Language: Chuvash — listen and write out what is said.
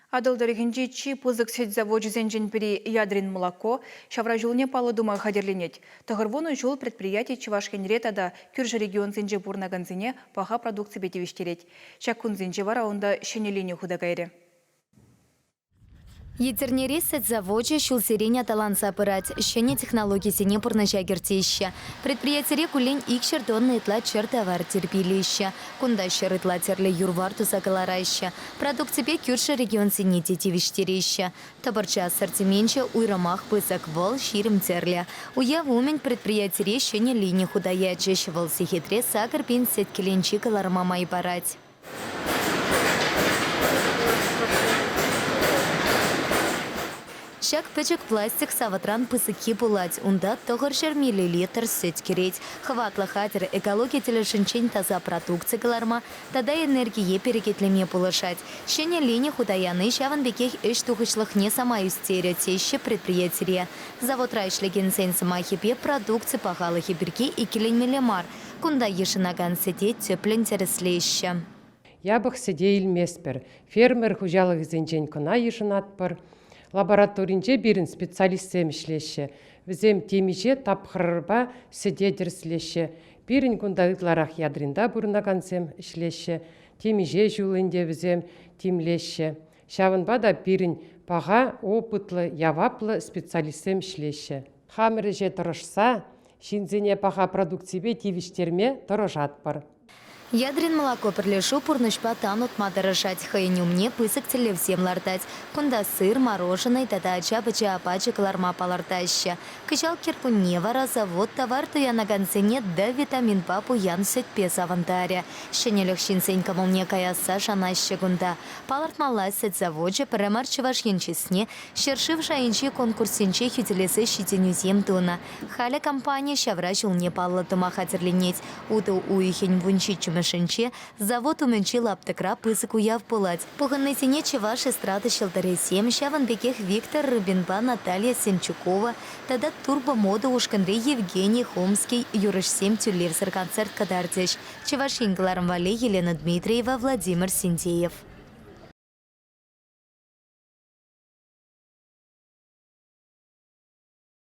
Атӑл тӑрӑхӗнчи чи пысӑк сӗт завочӗсенчен пӗри «Ядрин молоко» ҫавра ҫулне паллӑ тума хатӗрленет. Тӑхӑрвунӑ ҫул предприяти Чӑваш Енре тата кӳршӗ регионсенче пурӑнакансене паха продукципе тивӗҫтерет. Ҫак кунсенче вара унта ҫӗнӗленӳ хута кайрӗ. Етӗрнери сӗт завочӗ ҫулсерен аталанса пырать, ҫӗнӗ технологисене пурнӑҫа кӗртеҫҫӗ. Предприятире куллен икҫӗр тонна ытла чӗр тавар тирпейлеҫҫӗ. Кунта ҫӗр ытла тӗрлӗ юр-вар туса кӑлараҫҫӗ, Продукципе кӳршӗ регионсене те тивӗҫтереҫҫӗ. Тӑпӑрчӑ ассортименчӗ уйрӑмах пысӑк, вӑл ҫирӗм тӗрлӗ. Уяв умӗн предприятире ҫӗнӗ лини хута ячӗҫ, вӑл сехетре сакӑр пин сеткеленчи кӑларӑма май парать. Ҫак пӗчӗк пластик савӑтран пысӑкки пулать, унта тӑхӑр ҫӗр миллилитр сӗт кӗрет. Хӑватлӑ хатӗр экологи тӗлӗшӗнчен таса продукци кӑларма тата энергие перекетлеме пулӑшать, ҫӗнӗ лини хута яни ҫавӑн пекех ӗҫ тухӑҫлӑхне самай ӳстерӗ, теҫҫӗ предприятире. Заводра ӗҫлекенсен сӑмахӗпе, продукци пахалӑхӗ пирки иккӗленмелле мар, кунта йышӑнакан сӗте тӗплӗн тӗрӗслеҫҫӗ. Япӑх сӗте илместпӗр, фермер хуҫалӑхӗсенчен кӑна йышӑнатпӑр. Лабораторинче пирӗн специалистсем ӗҫлеҫҫӗ, вӗсем темиҫе тапхӑрпа сӗте тӗрӗслеҫҫӗ, Пирӗн кунта ытларах ядринта пурӑнакансем ӗҫлеҫҫӗ, темиҫе ҫул ӗнтӗ вӗсем тимлеҫҫӗ. Ҫавӑнпа та пирӗн паха опытлӑ, яваплӑ специалистсем ӗҫлеҫҫӗ. Хамӑр ӗҫе тӑрӑшса ҫынсене паха продукципе тивӗҫтерме тӑрӑшатпӑр. Ядрин молоко пӗрлешӳ пурнӑҫпа тан утма тӑрӑшать, хӑйӗн умне пысӑк тӗллевсем лартать. Кунта сыр, мороженӑй тата ача-пӑча апачӗ кӑларма палӑртаҫҫӗ. Кӑҫал кӗркунне вара завод тавар туянакансене D-витаминпа пуян сӗтпе савӑнтарӗ. Ҫӗнӗлӗх ҫынсен кӑмӑлне каясса шанаҫҫӗ кунта. Палӑртмалла, сӗт завочӗ пӗрре мар Чӑваш Ен чысне ҫӗршыв шайӗнчи конкурссенче хӳтӗлесе ҫитӗнӳсем тунӑ. Халӗ компани ҫавра ҫулне паллӑ тума хатӗрленет. Утӑ уйӑхӗн вунҫиччӗмӗшӗнче завод умӗнчи лаптӑкра пысӑк уяв пулать. Пухӑннисене чӑваш эстрада ҫӑлтӑрӗсем, ҫавӑн пекех Виктор Рыбинпа Наталья Сенчукова тата Турбо-мода ушкӑнри Евгений Хомский юрӑҫсем тӳлевсӗр концерт кӑтартӗҫ, Чӑваш Ен кӑларӑм валли Елена Дмитриева, Владимир Синдеев.